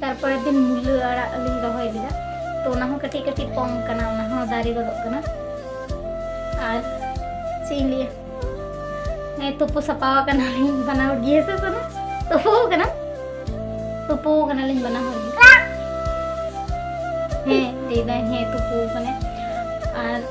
ᱛᱟᱨᱯᱚᱨᱮ ᱫᱤᱱ ᱢᱩᱞᱟᱹ ᱟᱲᱟᱜ ᱞᱤᱧ ᱨᱚᱦᱚᱭ ᱞᱮᱫᱟ ᱛᱚ ᱚᱱᱟ ᱦᱚᱸ ᱠᱟᱹᱴᱤᱡ ᱠᱟᱹᱴᱤᱡ ᱯᱚᱝ ᱠᱟᱱᱟ ᱚᱱᱟ ᱦᱚᱸ ᱫᱟᱨᱮ ᱜᱚᱫᱚᱜ ᱠᱟᱱᱟ ᱟᱨ ᱪᱮᱫ ᱤᱧ ᱞᱟᱹᱭᱟ ᱦᱮᱸ ᱛᱩᱯᱩ ᱥᱟᱯᱟ ᱟᱠᱟᱱᱟᱞᱤᱧ ᱵᱟᱱᱟ ᱦᱚᱲ ᱜᱮ ᱦᱮᱸᱥᱮ ᱥᱟᱱᱟ ᱛᱩᱯᱩ ᱟᱠᱟᱱᱟ ᱛᱩᱯᱩ ᱟᱠᱟᱱᱟᱞᱤᱧ ᱵᱟᱱᱟ ᱦᱚᱲ ᱜᱮ ᱦᱮᱸ ᱞᱟᱹᱭᱫᱟᱭ ᱦᱮᱸ ᱛᱩᱯᱩ ᱟᱠᱟᱱᱟᱭ ᱟᱨ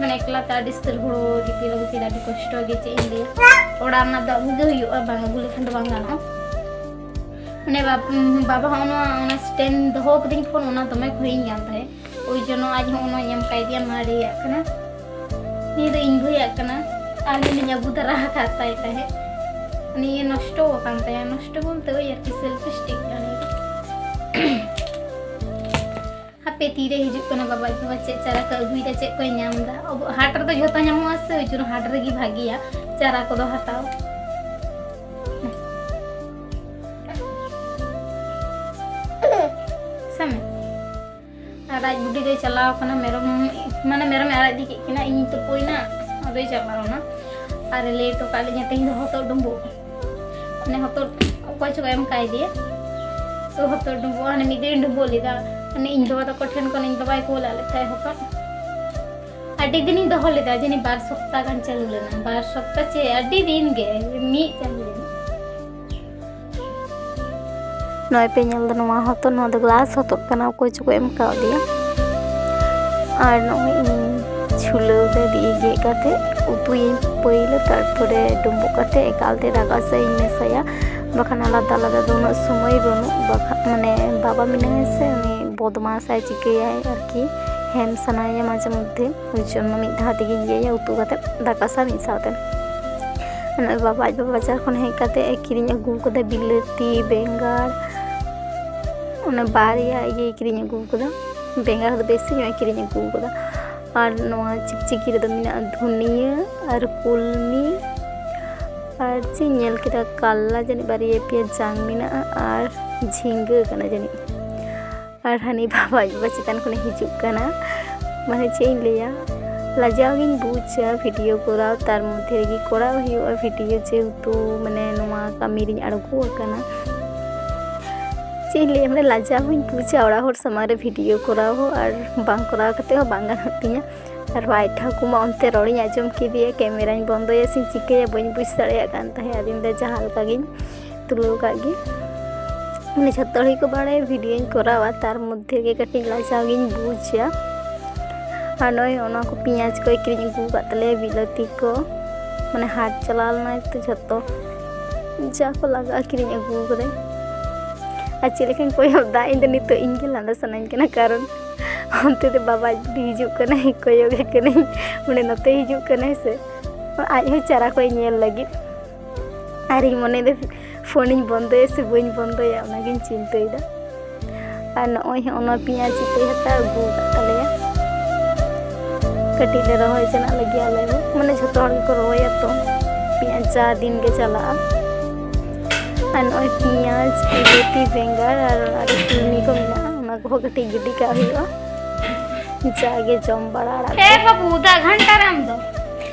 ᱢᱟᱱᱮ ᱮᱠᱞᱟ ᱛᱮ ᱟᱹᱰᱤ ᱥᱛᱤᱨ ᱦᱩᱲᱩ ᱫᱤᱯᱤᱞ ᱟᱹᱜᱩ ᱠᱮᱫᱟ ᱟᱹᱰᱤ ᱠᱚᱥᱴᱚ ᱜᱮ ᱪᱮᱫ ᱤᱧ ᱞᱟᱹᱭᱟ ᱚᱲᱟᱜ ᱨᱮᱱᱟᱜ ᱫᱚ ᱟᱹᱜᱩ ᱜᱮ ᱦᱩᱭᱩᱜᱼᱟ ᱵᱟᱝ ᱟᱹᱜᱩ ᱞᱮᱠᱷᱟᱱ ᱫᱚ ᱵᱟᱝ ᱜᱟᱱᱚᱜᱼᱟ ᱢᱟᱱᱮ ᱵᱟᱵᱟ ᱦᱚᱸ ᱱᱚᱣᱟ ᱚᱱᱟ ᱥᱴᱮᱱ ᱫᱚᱦᱚ ᱠᱟᱹᱫᱟᱹᱧ ᱯᱷᱳᱱ ᱚᱱᱟ ᱫᱚᱢᱮ ᱠᱷᱚᱭᱤᱧ ᱠᱟᱱ ᱛᱟᱦᱮᱸᱫ ᱳᱭ ᱡᱚᱱᱚ ᱟᱡ ᱦᱚᱸ ᱚᱱᱟ ᱧᱟᱢ ᱠᱟᱭ ᱫᱮᱭᱟ ᱢᱟᱨᱮᱭᱟᱜ ᱠᱟᱱᱟ ᱱᱤᱭᱟᱹ ᱫᱚ ᱤᱧ ᱵᱷᱟᱹᱭᱟᱜ ᱠᱟᱱᱟ ᱟᱹᱞᱤᱧ ᱟᱹᱜᱩ ᱫᱟᱨᱟ ᱟᱠᱟᱫ ᱛᱟᱭ ᱛᱟᱦᱮᱸᱫ ᱱᱤᱭᱟᱹ ᱱᱚᱥᱴᱚ ᱟᱠᱟᱱ ᱛᱟᱭᱟ ᱱᱚᱥᱴᱚ ᱵᱚᱞᱛᱮ ᱳᱭ ᱟᱨᱠᱤ ᱥᱮᱞᱯᱷᱤᱥᱴᱤᱠ ᱠᱟᱱᱟ ᱦᱟᱯᱮ ᱛᱤᱨᱮ ᱦᱤᱡᱩᱜ ᱠᱟᱱᱟ ᱵᱟᱵᱟ ᱟᱹᱜᱩ ᱵᱟ ᱪᱮᱫ ᱪᱟᱨᱟ ᱠᱚ ᱟᱹᱜᱩᱭᱮᱫᱟ ᱪᱮᱫ ᱠᱚᱭ ᱧᱟᱢ ᱮᱫᱟ ᱟᱵᱚ ᱦᱟᱴ ᱨᱮᱫᱚ ᱡᱷᱚᱛᱚ ᱧᱟᱢᱚᱜᱼᱟ ᱥᱮ ᱳᱭ ᱡᱚᱱᱱᱚ ᱦᱟᱴ ᱨᱮᱜᱮ ᱵᱷᱟᱜᱮᱭᱟ ᱪᱟᱨᱟ ᱠᱚᱫᱚ ᱦᱟᱛᱟᱣ ᱥᱟᱢᱮ ᱟᱨ ᱟᱡ ᱵᱩᱰᱤ ᱫᱚᱭ ᱪᱟᱞᱟᱣ ᱠᱟᱱᱟ ᱢᱮᱨᱚᱢ ᱢᱟᱱᱮ ᱢᱮᱨᱚᱢᱮ ᱟᱲᱟᱜ ᱤᱫᱤ ᱠᱮᱫ ᱠᱤᱱᱟ ᱤᱧ ᱛᱩᱯᱩᱭᱱᱟ ᱟᱫᱚᱭ ᱪᱟᱞᱟᱣᱱᱟ ᱟᱨ ᱞᱟᱹᱭ ᱦᱚᱴᱚ ᱠᱟᱜ ᱞᱤᱧᱟ ᱛᱮᱦᱮᱧ ᱫᱚ ᱦᱚᱛᱚᱫ ᱰᱩᱸᱵᱩᱜ ᱢᱟᱱᱮ ᱦᱚᱛᱚᱫ ᱚᱠᱚᱭ ᱪᱚᱠᱚ ᱮᱢ ᱠᱟᱭ ᱫᱮᱭᱟ ᱛᱚ ᱦᱚᱛᱚᱫ ᱰᱩᱸᱵᱩᱜ ᱦᱟᱱᱮ ᱢᱤᱫ ᱫᱤᱱ ᱰᱩᱸᱵᱩᱜ ᱞᱮᱫᱟ ᱢᱟᱱᱮ ᱤᱧ ᱵᱟᱵᱟ ᱛᱟᱠᱚ ᱴᱷᱮᱱ ᱠᱷᱚᱱ ᱤᱧ ᱵᱟᱵᱟᱭ ᱠᱩᱞᱟᱜ ᱞᱮᱫ ᱛᱟᱦᱮᱸ ᱦᱚᱛᱚᱫ ᱟᱹᱰᱤ ᱫᱤᱱᱤᱧ ᱫᱚᱦᱚ ᱞᱮᱫᱟ ᱡᱟᱹᱱᱤ ᱵᱟᱨ ᱥᱚᱯᱛᱟ ᱜᱟᱱ ᱪᱟᱹᱞᱩ ᱞᱮᱱᱟ ᱵᱟᱨ ᱥᱚᱯᱛᱟ ᱪᱮ ᱟᱹᱰᱤ ᱫᱤᱱ ᱜᱮ ᱢᱤᱫ ᱪᱟᱸᱫᱚ ᱱᱚᱜᱼᱚᱭ ᱯᱮ ᱧᱮᱞ ᱫᱟ ᱱᱚᱣᱟ ᱦᱚᱛᱚᱫ ᱱᱚᱣᱟ ᱫᱚ ᱜᱞᱟᱥ ᱦᱚᱛᱚᱫ ᱠᱟᱱᱟ ᱚᱠᱚᱭ ᱪᱚᱠᱚ ᱮᱢ ᱠᱟᱣᱫᱮᱭᱟ ᱟᱨ ᱱᱚᱜᱼᱚᱭ ᱤᱧ ᱪᱷᱩᱞᱟᱹᱣ ᱨᱮ ᱫᱤᱭᱮ ᱜᱮᱫ ᱠᱟᱛᱮ ᱩᱛᱩᱭᱟᱹᱧ ᱯᱟᱹᱭᱞᱟᱹ ᱛᱟᱨᱯᱚᱨᱮ ᱰᱩᱸᱵᱩᱜ ᱠᱟᱛᱮ ᱮᱠᱟᱞᱛᱮ ᱫᱟᱠᱟ ᱥᱟᱶ ᱤᱧ ᱢᱮᱥᱟᱭᱟ ᱵᱟᱠᱷᱟᱱ ᱟᱞᱟᱫᱟ ᱟᱞᱟᱫᱟ ᱫᱚ ᱩᱱᱟᱹᱜ ᱥᱚᱢᱚᱭ ᱵᱟᱹᱱᱩᱜ ᱵᱟᱠᱷᱟᱱ ᱢᱟᱱᱮ ᱵᱟᱵᱟ ᱢᱮᱱᱟᱭᱟ ᱥᱮ ᱩᱱᱤ ᱵᱚᱫᱢᱟᱥᱟᱭ ᱪᱤᱠᱟᱹᱭᱟᱭ ᱟᱨᱠᱤ ᱦᱮᱢ ᱥᱟᱱᱟᱭᱮᱭᱟ ᱢᱟᱡᱷᱮ ᱢᱚᱫᱽᱫᱷᱮ ᱩᱱ ᱡᱚᱱᱢᱚ ᱢᱤᱫ ᱫᱷᱟᱣ ᱛᱮᱜᱮᱧ ᱤᱭᱟᱹᱭᱟ ᱩᱛᱩ ᱠᱟᱛᱮ ᱫᱟᱠᱟ ᱥᱟᱶ ᱢᱤᱫ ᱥᱟᱶᱛᱮ ᱱᱚᱜᱼᱚᱭ ᱵᱟᱵᱟ ᱟᱡ ᱵᱟᱵᱟ ᱵᱟᱡᱟᱨ ᱠᱷᱚᱱ ᱦᱮᱡ ᱠᱟᱛᱮ ᱮ ᱠᱤᱨᱤᱧ ᱟᱹᱜᱩ ᱠᱟᱫᱟ ᱵᱤᱞᱟᱹᱛᱤ ᱵᱮᱸᱜᱟᱲ ᱚᱱᱟ ᱵᱟᱨᱭᱟ ᱤᱭᱟᱹᱭ ᱠᱤᱨᱤᱧ ᱟᱹᱜᱩ ᱠᱟᱫᱟ ᱵᱮᱸᱜᱟᱲ ᱫᱚ ᱵᱮᱥᱤ ᱧᱚᱜ ᱮ ᱠᱤᱨᱤᱧ ᱟᱹᱜᱩ ᱠᱟᱫᱟ ᱟᱨ ᱱᱚᱣᱟ ᱪᱤᱠᱪᱤᱠᱤ ᱨᱮᱫᱚ ᱢᱮᱱᱟᱜᱼᱟ ᱫᱷᱩᱱᱤᱭᱟᱹ ᱟᱨ ᱠᱩᱞᱢᱤ ᱟᱨ ᱪᱮᱫ ᱧᱮᱞ ᱠᱮᱫᱟ ᱠᱟᱞᱞᱟ ᱡᱟᱹᱱᱤᱡ ᱵᱟᱨᱭᱟ ᱯᱮᱭᱟ ᱡᱟᱝ ᱢᱮᱱᱟᱜᱼᱟ ᱟᱨ ᱡᱷᱤᱸᱜᱟᱹ ᱠᱟᱱᱟ ᱡᱟᱹᱱᱤᱡ ᱟᱨ ᱦᱟᱹᱱᱤ ᱵᱟᱵᱟ ᱟᱡ ᱵᱟᱵᱟ ᱪᱮᱛᱟᱱ ᱠᱷᱚᱱᱮ ᱦᱤᱡᱩᱜ ᱠᱟᱱᱟ ᱢᱟᱱᱮ ᱪᱮᱫ ᱤᱧ ᱞᱟᱹᱭᱟ ᱞᱟᱡᱟᱣ ᱜᱤᱧ ᱵᱩᱡᱟ ᱵᱷᱤᱰᱤᱭᱳ ᱠᱚᱨᱟᱣ ᱛᱟᱨ ᱢᱚᱫᱽᱫᱷᱮ ᱨᱮᱜᱮ ᱠᱚᱨᱟᱣ ᱦᱩᱭᱩᱜᱼᱟ ᱵᱷᱤᱰᱤᱭᱳ ᱡᱮᱦᱮᱛᱩ ᱢᱟᱱᱮ ᱱᱚᱣᱟ ᱠᱟᱹᱢᱤ ᱨᱤᱧ ᱟᱬᱜᱚ ᱟᱠᱟᱱᱟ ᱪᱮᱫ ᱤᱧ ᱞᱟᱹᱭᱟ ᱢᱟᱱᱮ ᱞᱟᱡᱟᱣ ᱦᱚᱧ ᱵᱩᱡᱟ ᱚᱲᱟᱜ ᱦᱚᱲ ᱥᱟᱢᱟᱝ ᱨᱮ ᱵᱷᱤᱰᱤᱭᱳ ᱠᱚᱨᱟᱣ ᱦᱚᱸ ᱟᱨ ᱵᱟᱝ ᱠᱚᱨᱟᱣ ᱠᱟᱛᱮ ᱦᱚᱸ ᱵᱟᱝ ᱜᱟᱱᱚᱜ ᱛᱤᱧᱟ ᱟᱨ ᱵᱟᱭ ᱴᱷᱟᱹᱠᱩ ᱢᱟ ᱚᱱᱛᱮ ᱨᱚᱲᱤᱧ ᱟᱸᱡᱚᱢ ᱠᱮᱫᱮᱭᱟ ᱠᱮᱢᱮᱨᱟᱧ ᱵᱚᱱᱫᱚᱭᱟ ᱥᱮᱧ ᱪᱤᱠᱟᱹᱭᱟ ᱵᱟᱹᱧ ᱵᱩᱡᱽ ᱫᱟᱲᱮᱭᱟᱜ ᱠᱟᱱ ᱛᱟᱦᱮᱸᱫ ᱟᱫᱚᱧ ᱢᱮᱱᱫᱟ ᱡᱟᱦᱟᱸ ᱞᱮᱠᱟ ᱜᱤᱧ ᱛᱩᱞᱟᱹᱣ ᱠᱟᱜ ᱜᱮ ᱢᱟᱱᱮ ᱡᱷᱚᱛᱚ ᱦᱚᱲ ᱜᱮᱠᱚ ᱵᱟᱲᱟᱭᱟ ᱵᱷᱤᱰᱤᱭᱳᱧ ᱠᱚᱨᱟᱣᱟ ᱛᱟᱨ ᱢᱚᱫᱽᱫᱷᱮ ᱜᱮ ᱠᱟᱹᱴᱤᱡ ᱞᱟᱡᱟᱣ ᱜᱤᱧ ᱵᱩᱡᱟ ᱟᱨ ᱱᱚᱜᱼᱚᱭ ᱚᱱᱟ ᱠᱚ ᱯᱮᱸᱭᱟᱡᱽ ᱠᱚᱭ ᱠᱤᱨᱤᱧ ᱟᱹᱜᱩ ᱟᱠᱟᱫ ᱛᱟᱞᱮᱭᱟ ᱵᱤᱞᱟᱹᱛᱤ ᱠᱚ ᱢᱟᱱᱮ ᱦᱟᱴ ᱪᱟᱞᱟᱣ ᱞᱮᱱᱟᱭ ᱛᱚ ᱡᱷᱚᱛᱚ ᱡᱟ ᱠᱚ ᱞᱟᱜᱟᱜᱼᱟ ᱠᱤᱨᱤᱧ ᱟᱹᱜᱩ ᱟᱠᱟᱫᱟᱭ ᱟᱨ ᱪᱮᱫ ᱞᱮᱠᱟᱧ ᱠᱚᱭᱚᱜ ᱫᱟ ᱤᱧ ᱫᱚ ᱱᱤᱛᱚᱜ ᱤᱧ ᱜᱮ ᱞᱟᱸᱫᱟ ᱥᱟᱱᱟᱧ ᱠᱟᱱᱟ ᱠᱟᱨᱚᱱ ᱚᱱᱛᱮ ᱫᱚ ᱵᱟᱵᱟ ᱦᱤᱡᱩᱜ ᱠᱟᱱᱟᱭ ᱠᱚᱭᱚᱜᱮ ᱠᱟᱹᱱᱟᱹᱧ ᱢᱟᱱᱮ ᱱᱚᱛᱮ ᱦᱤᱡᱩᱜ ᱠᱟᱱᱟᱭ ᱥᱮ ᱟᱡ ᱦᱚᱸ ᱪᱟᱨᱟ ᱠᱚᱭ ᱧᱮᱞ ᱞᱟᱹᱜᱤᱫ ᱟᱨᱤᱧ ᱢᱚᱱᱮᱭᱮᱫᱟ ᱯᱷᱳᱱᱤᱧ ᱵᱚᱱᱫᱚᱭᱟ ᱥᱮ ᱵᱟᱹᱧ ᱵᱚᱱᱫᱚᱭᱟ ᱚᱱᱟᱜᱤᱧ ᱪᱤᱱᱛᱟᱹᱭᱮᱫᱟ ᱟᱨ ᱱᱚᱜᱼᱚᱭ ᱦᱚᱸ ᱚᱱᱟ ᱯᱮᱸᱭᱟᱡᱽ ᱤᱛᱟᱹᱭ ᱦᱟᱛᱟᱣ ᱟᱹᱜᱩ ᱟᱠᱟᱫ ᱛᱟᱞᱮᱭᱟ ᱠᱟᱹᱴᱤᱡ ᱞᱮ ᱨᱚᱦᱚᱭ ᱡᱚᱱᱟᱜ ᱞᱟᱹᱜᱤᱫ ᱟᱞᱮ ᱦᱚᱸ ᱢᱟᱱᱮ ᱡᱷᱚᱛᱚ ᱦᱚᱲ ᱜᱮᱠᱚ ᱨᱚᱦᱚᱭᱟ ᱛᱚ ᱯᱮᱸᱭᱟᱡᱽ ᱡᱟ ᱫᱤᱱ ᱜᱮ ᱪᱟᱞᱟᱜᱼᱟ ᱟᱨ ᱱᱚᱜᱼᱚᱭ ᱯᱮᱸᱭᱟᱡᱽ ᱵᱤᱞᱟᱹᱛᱤ ᱵᱮᱸᱜᱟᱲ ᱟᱨ ᱟᱨ ᱠᱩᱲᱢᱤ ᱠᱚ ᱢᱮᱱᱟᱜᱼᱟ ᱚᱱᱟ ᱠᱚᱦᱚᱸ ᱠᱟᱹᱴᱤᱡ ᱜᱤᱰᱤ ᱠᱟᱜ ᱦᱩᱭᱩᱜᱼᱟ ᱡᱟᱜᱮ ᱡᱚᱢ ᱵᱟᱲᱟ ᱟᱲᱟᱜ ᱮ ᱵᱟᱹᱵᱩ ᱫᱟᱜ ᱜᱷᱟᱱᱴᱟ ᱨᱮ ᱟᱢ ᱫᱚ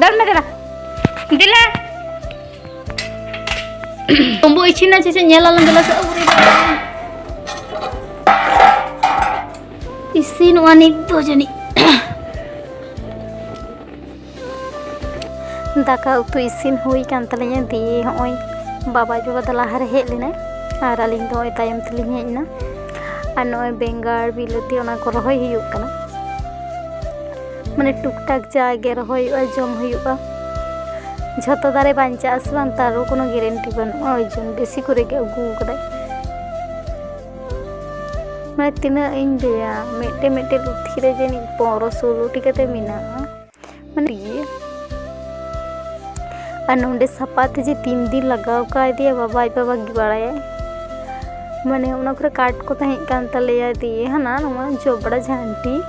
ᱫᱟᱹᱲ ᱢᱮ ᱫᱮᱞᱟ ᱫᱮᱞᱟ ᱛᱚᱢᱵᱩ ᱤᱪᱷᱤᱱᱟ ᱪᱮ ᱧᱮᱞ ᱟᱞᱟᱝ ᱫᱮᱞᱟ ᱥᱮ ᱤᱥᱤᱱ ᱚᱜᱼᱟ ᱱᱤᱛ ᱫᱚ ᱡᱟᱹᱱᱤᱡ ᱫᱟᱠᱟ ᱩᱛᱩ ᱤᱥᱤᱱ ᱦᱩᱭ ᱠᱟᱱ ᱛᱟᱹᱞᱤᱧᱟ ᱫᱤᱭᱮ ᱦᱚᱸᱜᱼᱚᱭ ᱵᱟᱵᱟ ᱡᱚᱵᱟ ᱫᱚ ᱞᱟᱦᱟᱨᱮ ᱦᱮᱡ ᱞᱮᱱᱟᱭ ᱟᱨ ᱟᱹᱞᱤᱧ ᱫᱚ ᱱᱚᱜᱼᱚᱭ ᱛᱟᱭᱚᱢ ᱛᱮᱞᱤᱧ ᱦᱮᱡ ᱮᱱᱟ ᱟᱨ ᱱᱚᱜᱼᱚᱭ ᱵᱮᱸᱜᱟᱲ ᱵᱤᱞᱟᱹᱛᱤ ᱚᱱᱟ ᱠᱚ ᱨᱚᱦᱚᱭ ᱦᱩᱭᱩᱜ ᱠᱟᱱᱟ ᱢᱟᱱᱮ ᱴᱩᱠ ᱴᱟᱠ ᱡᱟᱜᱮ ᱨᱚᱦᱚᱭᱚᱜᱼᱟ ᱡᱚᱢ ᱦᱩᱭᱩᱜᱼᱟ ᱡᱷᱚᱛᱚ ᱫᱟᱨᱮ ᱵᱟᱧᱪᱟᱜᱼᱟ ᱥᱮ ᱵᱟᱝ ᱛᱟᱨ ᱠᱳᱱᱳ ᱜᱮᱨᱮᱱᱴᱤ ᱵᱟᱹᱱᱩᱜᱼᱟ ᱳᱭ ᱡᱚᱱ ᱵᱮᱥᱤ ᱠᱚᱨᱮ ᱜᱮ ᱟᱹᱜᱩ ᱟᱠᱟᱫᱟᱭ ᱢᱟᱱᱮ ᱛᱤᱱᱟᱹᱜ ᱤᱧ ᱞᱟᱹᱭᱟ ᱢᱤᱫᱴᱮᱱ ᱢᱤᱫᱴᱮᱱ ᱞᱩᱛᱷᱤ ᱨᱮ ᱡᱟᱹᱱᱤᱡ ᱯᱚᱱᱨᱚ ᱥᱳᱞᱳᱴᱤ ᱠᱟᱛᱮ ᱢᱮᱱᱟᱜᱼᱟ ᱢᱟᱱᱮ ᱜᱮ ᱟᱨ ᱱᱚᱰᱮ ᱥᱟᱯᱟ ᱛᱮ ᱡᱮ ᱛᱤᱱ ᱫᱤᱱ ᱞᱟᱜᱟᱣ ᱠᱟᱣᱫᱮᱭᱟ ᱵᱟᱵᱟ ᱟᱡ ᱵᱟᱵᱟ ᱜᱮ ᱵᱟᱲᱟᱭᱟᱭ ᱢᱟᱱᱮ ᱚᱱᱟ ᱠᱚᱨᱮ ᱠᱟᱴ ᱠᱚ ᱛᱟᱦᱮᱸ ᱠᱟᱱ ᱛᱟᱞᱮᱭᱟ ᱫᱤᱭᱮ ᱦᱟᱱᱟ ᱱᱚᱣᱟ ᱡᱚᱵᱽᱨᱟ ᱡᱷᱟᱹᱱᱴᱤ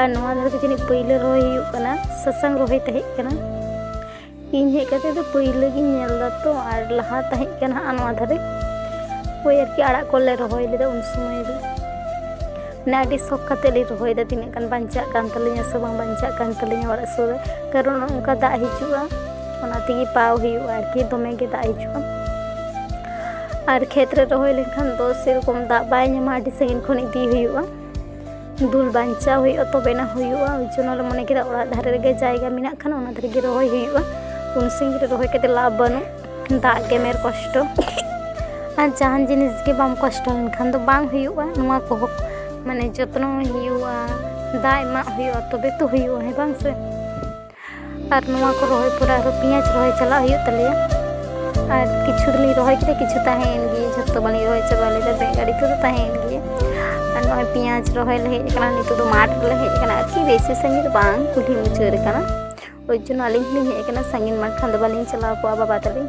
ᱟᱨ ᱱᱚᱣᱟ ᱫᱷᱟᱨᱮ ᱫᱚ ᱡᱟᱹᱱᱤᱡ ᱯᱟᱹᱭᱞᱟᱹ ᱨᱚᱦᱚᱭ ᱦᱩᱭᱩᱜ ᱠᱟᱱᱟ ᱥᱟᱥᱟᱝ ᱨᱚᱦᱚᱭ ᱛᱟᱦᱮᱸ ᱠᱟᱱᱟ ᱤᱧ ᱦᱮᱡ ᱠᱟᱛᱮ ᱫᱚ ᱯᱟᱹᱭᱞᱟᱹ ᱜᱤᱧ ᱧᱮᱞ ᱫᱟ ᱛᱚ ᱟᱨ ᱞᱟᱦᱟ ᱛᱟᱦᱮᱸ ᱠᱟᱱᱟ ᱦᱟᱸᱜ ᱱᱚᱣᱟ ᱫᱷᱟᱨᱮ ᱳᱭ ᱟᱨᱠᱤ ᱟᱲᱟᱜ ᱠᱚᱞᱮ ᱨᱚᱦᱚᱭ ᱞᱮᱫᱟ ᱩᱱ ᱥᱚᱢᱚᱭ ᱫᱚ ᱢᱟᱱᱮ ᱟᱹᱰᱤ ᱥᱚᱠ ᱠᱟᱛᱮ ᱞᱮ ᱨᱚᱦᱚᱭᱫᱟ ᱛᱤᱱᱟᱹᱜ ᱜᱟᱱ ᱵᱟᱧᱪᱟᱜ ᱠᱟᱱ ᱛᱟᱹᱞᱤᱧᱟ ᱥᱮ ᱵᱟᱝ ᱵᱟᱧᱪᱟᱜ ᱠᱟᱱ ᱛᱟᱹᱞᱤᱧᱟ ᱚᱲᱟᱜ ᱥᱩᱨ ᱨᱮ ᱠᱟᱨᱚᱱ ᱚᱱᱠᱟ ᱫᱟᱜ ᱦᱤᱡᱩᱜᱼᱟ ᱚᱱᱟ ᱛᱮᱜᱮ ᱯᱟᱣ ᱦᱩᱭᱩᱜᱼᱟ ᱟᱨᱠᱤ ᱫᱚᱢᱮ ᱜᱮ ᱫᱟᱜ ᱦᱤᱡᱩᱜᱼᱟ ᱟᱨ ᱠᱷᱮᱛ ᱨᱮ ᱨᱚᱦᱚᱭ ᱞᱮᱱᱠᱷᱟᱱ ᱫᱚ ᱥᱮᱨᱚᱠᱚᱢ ᱫᱟᱜ ᱵᱟᱭ ᱧᱟᱢᱟ ᱟᱹᱰᱤ ᱥᱟᱺᱜᱤᱧ ᱠᱷᱚᱱ ᱤᱫᱤ ᱦᱩᱭᱩᱜᱼᱟ ᱫᱩᱞ ᱵᱟᱧᱪᱟᱣ ᱦᱩᱭᱩᱜᱼᱟ ᱛᱚᱵᱮᱱᱟ ᱦᱩᱭᱩᱜᱼᱟ ᱚᱱᱟ ᱡᱚᱱᱱᱚ ᱞᱮ ᱢᱚᱱᱮ ᱠᱮᱫᱟ ᱚᱲᱟᱜ ᱫᱷᱟᱨᱮ ᱨᱮᱜᱮ ᱡᱟᱭᱜᱟ ᱢᱮᱱᱟᱜ ᱠᱷᱟᱱ ᱚᱱᱟ ᱫᱷᱟᱨᱮ ᱜᱮ ᱨᱚᱦᱚᱭ ᱦᱩᱭᱩᱜᱼᱟ ᱩᱱ ᱥᱟᱺᱜᱤᱧ ᱨᱮ ᱨᱚᱦᱚᱭ ᱠᱟᱛᱮ ᱞᱟᱵᱷ ᱵᱟᱹᱱᱩᱜ ᱫᱟᱜ ᱜᱮᱢᱮᱨ ᱠᱚᱥᱴᱚ ᱟᱨ ᱡᱟᱦᱟᱱ ᱡᱤᱱᱤᱥ ᱜᱮ ᱵᱟᱢ ᱠᱚᱥᱴᱚ ᱞᱮᱱᱠᱷᱟᱱ ᱫᱚ ᱵᱟᱝ ᱦᱩᱭᱩᱜᱼᱟ ᱱᱚᱣᱟ ᱠᱚᱦᱚᱸ ᱢᱟᱱᱮ ᱡᱚᱛᱱᱚ ᱦᱩᱭᱩᱜᱼᱟ ᱫᱟᱜ ᱮᱢᱟᱜ ᱦᱩᱭᱩᱜᱼᱟ ᱛᱚᱵᱮ ᱛᱚ ᱦᱩᱭᱩᱜᱼᱟ ᱦᱮᱸ ᱵᱟᱝ ᱥᱮ ᱟᱨ ᱱᱚᱣᱟ ᱠᱚ ᱨᱚᱦᱚᱭ ᱯᱚᱨᱮ ᱟᱨᱚ ᱯᱮᱸᱭᱟᱡᱽ ᱨᱚᱦᱚᱭ ᱪᱟᱞᱟᱜ ᱦᱩᱭᱩᱜ ᱛᱟᱞᱮᱭᱟ ᱟᱨ ᱠᱤᱪᱷᱩ ᱫᱚᱞᱤᱧ ᱨᱚᱦᱚᱭ ᱠᱮᱫᱟ ᱠᱤᱪᱷᱩ ᱛᱟᱦᱮᱸᱭᱮᱱ ᱜᱮ ᱡᱷᱚᱛᱚ ᱵᱟᱹᱞᱤᱧ ᱨᱚᱦᱚᱭ ᱪᱟᱵᱟ ᱞᱮᱫᱟ ᱵᱮᱸᱜᱟᱲ ᱤᱛᱟᱹ ᱫᱚ ᱛᱟᱦᱮᱸᱭᱮᱱ ᱜᱮ ᱟᱨ ᱱᱚᱜᱼᱚᱭ ᱯᱮᱸᱭᱟᱡᱽ ᱨᱚᱦᱚᱭ ᱞᱮ ᱦᱮᱡ ᱟᱠᱟᱱᱟ ᱱᱤᱛᱚᱜ ᱫᱚ ᱢᱟᱴᱷ ᱨᱮᱞᱮ ᱦᱮᱡ ᱟᱠᱟᱱᱟ ᱟᱨᱠᱤ ᱵᱮᱥᱤ ᱥᱟᱺᱜᱤᱧ ᱫᱚ ᱵᱟᱝ ᱠᱩᱞᱦᱤ ᱢᱩᱪᱟᱹᱫ ᱨᱮ ᱠᱟᱱᱟ ᱳᱭ ᱡᱚᱱᱱᱚ ᱟᱹᱞᱤᱧ ᱦᱚᱸᱞᱤᱧ ᱦᱮᱡ ᱟᱠᱟᱱᱟ ᱥᱟᱺᱜᱤᱧ ᱢᱟᱴᱷ ᱠᱷᱟᱱ ᱫᱚ ᱵᱟᱹᱞᱤᱧ ᱪᱟᱞᱟᱣ ᱠᱚᱜᱼᱟ ᱵᱟᱵᱟ ᱛᱟᱹᱞᱤᱧ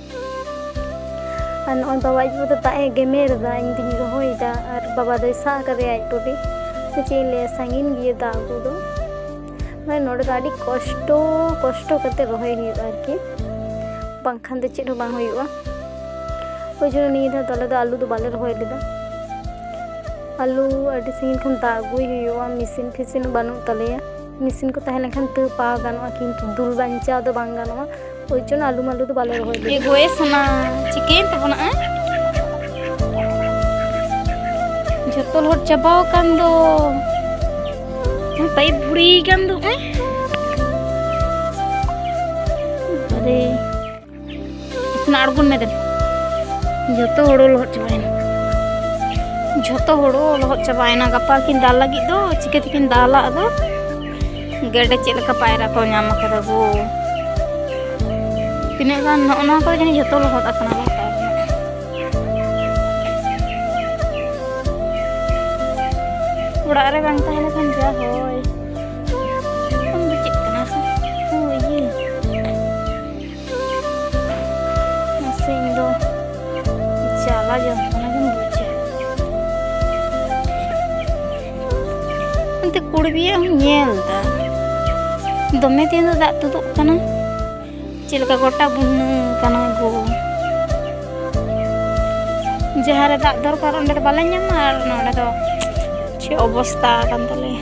ᱟᱨ ᱱᱚᱜᱼᱚᱭ ᱵᱟᱵᱟ ᱟᱡ ᱵᱟᱵᱟ ᱫᱚ ᱫᱟᱜ ᱮ ᱜᱮᱢᱮᱨ ᱮᱫᱟ ᱤᱧ ᱫᱩᱧ ᱨᱚᱦᱚᱭᱮᱫᱟ ᱟᱨ ᱵᱟᱵᱟ ᱫᱚᱭ ᱥᱟᱵ ᱟᱠᱟᱫᱮᱭᱟ ᱟᱡ ᱴᱩᱴᱤ ᱥᱮ ᱪᱮᱫ ᱤᱧ ᱞᱟᱹᱭᱟ ᱥᱟᱺᱜᱤᱧ ᱜᱮᱭᱟ ᱫᱟᱜ ᱟᱹᱜᱩ ᱫᱚ ᱢᱟᱱᱮ ᱱᱚᱰᱮ ᱫᱚ ᱟᱹᱰᱤ ᱠᱚᱥᱴᱚ ᱠᱚᱥᱴᱚ ᱠᱟᱛᱮ ᱨᱚᱦᱚᱭ ᱦᱩᱭᱩᱜᱼᱟ ᱟᱨᱠᱤ ᱵᱟᱝᱠᱷᱟᱱ ᱫᱚ ᱪᱮᱫ ᱦᱚᱸ ᱵᱟᱝ ᱦᱩᱭᱩᱜᱼᱟ ᱳᱭ ᱡᱚᱱᱱᱚ ᱱᱤᱭᱟᱹ ᱫᱷᱟᱣ ᱫᱚ ᱟᱞᱮ ᱫᱚ ᱟᱹᱞᱩ ᱫᱚ ᱵᱟᱞᱮ ᱨᱚᱦᱚᱭ ᱞᱮᱫᱟ ᱟᱹᱞᱩ ᱟᱹᱰᱤ ᱥᱟᱺᱜᱤᱧ ᱠᱷᱚᱱ ᱫᱟᱜ ᱟᱹᱜᱩᱭ ᱦᱩᱭᱩᱜᱼᱟ ᱢᱮᱥᱤᱱ ᱯᱷᱮᱥᱤᱱ ᱵᱟᱹᱱᱩᱜ ᱛᱟᱞᱮᱭᱟ ᱢᱮᱥᱤᱱ ᱠᱚ ᱛᱟᱦᱮᱸ ᱞᱮᱱᱠᱷᱟᱱ ᱛᱟᱹᱣ ᱯᱟ ᱜᱟᱱᱚᱜᱼᱟ ᱠᱤᱱᱛᱩ ᱫᱩᱞ ᱵᱟᱧᱪᱟᱣ ᱫᱚ ᱵᱟᱝ ᱜᱟᱱᱚᱜᱼᱟ ᱳᱭ ᱡᱚᱱᱱᱚ ᱟᱞᱩ ᱢᱟᱞᱩ ᱫᱚ ᱵᱟᱞᱮ ᱨᱚᱦᱚᱭ ᱞᱮᱫᱟ ᱜᱚᱭᱮ ᱥᱟᱱᱟ ᱪᱤᱠᱟᱹᱭᱮᱱ ᱛᱟᱵᱚᱱᱟ ᱡᱚᱛᱚ ᱞᱚᱦᱚᱫ ᱪᱟᱵᱟᱣ ᱟᱠᱟᱱ ᱫᱚ ᱯᱟᱭᱤᱯ ᱵᱷᱩᱲᱤᱭ ᱠᱟᱱ ᱫᱚ ᱦᱮᱸ ᱤᱥᱤᱱ ᱟᱬᱜᱚᱱ ᱢᱮ ᱫᱮᱱ ᱡᱚᱛᱚ ᱦᱳᱲᱳ ᱞᱚᱦᱚᱫ ᱪᱟᱵᱟᱭᱮᱱᱟ ᱡᱚᱛᱚ ᱦᱳᱲᱳ ᱞᱚᱦᱚᱫ ᱪᱟᱵᱟᱭᱮᱱᱟ ᱜᱟᱯᱟ ᱠᱤᱱ ᱫᱟᱞ ᱞᱟᱹᱜᱤᱫ ᱫᱚ ᱪᱤᱠᱟᱹ ᱛᱮᱠᱤᱱ ᱫᱟᱞᱟ ᱟᱫᱚ ᱜᱮᱰᱮ ᱪᱮᱫ ᱞᱮᱠᱟ ᱯᱟᱭᱨᱟ ᱠᱚ ᱧᱟᱢ ᱟᱠᱟᱫᱟ ᱜᱳ ᱛᱤᱱᱟᱹᱜ ᱜᱟᱱ ᱱᱚᱜᱼᱚ ᱱᱚᱣᱟ ᱠᱚᱫᱚ ᱡᱟᱹᱱᱤᱡ ᱡᱚᱛᱚ ᱞᱚᱦᱚᱫ ᱟᱠᱟᱱᱟ ᱵᱟᱝ ᱚᱲᱟᱜ ᱨᱮ ᱵᱟᱝ ᱛᱟᱦᱮᱸ ᱞᱮᱠᱷᱟᱱ ᱡᱟ ᱦᱚᱭ ᱢᱟᱥᱮ ᱤᱧ ᱫᱚ ᱪᱟᱞᱟ ᱡᱚᱱᱛᱚᱱᱟ ᱜᱮᱢ ᱵᱩᱡᱟ ᱚᱱᱛᱮ ᱠᱩᱲᱤ ᱵᱤᱭᱟᱹ ᱦᱚᱸ ᱧᱮᱞ ᱫᱟ ᱫᱚᱢᱮ ᱫᱤᱱ ᱫᱚ ᱫᱟᱜ ᱛᱩᱫᱩᱜ ᱠᱟᱱᱟ ᱪᱮᱫ ᱞᱮᱠᱟ ᱜᱚᱴᱟ ᱵᱩᱱᱱᱟᱹ ᱠᱟᱱᱟ ᱜᱳ ᱡᱟᱦᱟᱸ ᱨᱮ ᱫᱟᱜ ᱫᱚᱨᱠᱟᱨ ᱚᱸᱰᱮ ᱫᱚ ᱵᱟᱞᱮ ᱧᱟᱢᱟ ᱟᱨ ᱱᱚᱰᱮ ᱫᱚ ᱪᱮᱫ ᱚᱵᱚᱥᱛᱟ ᱠᱟᱱ ᱛᱟᱞᱮᱭᱟ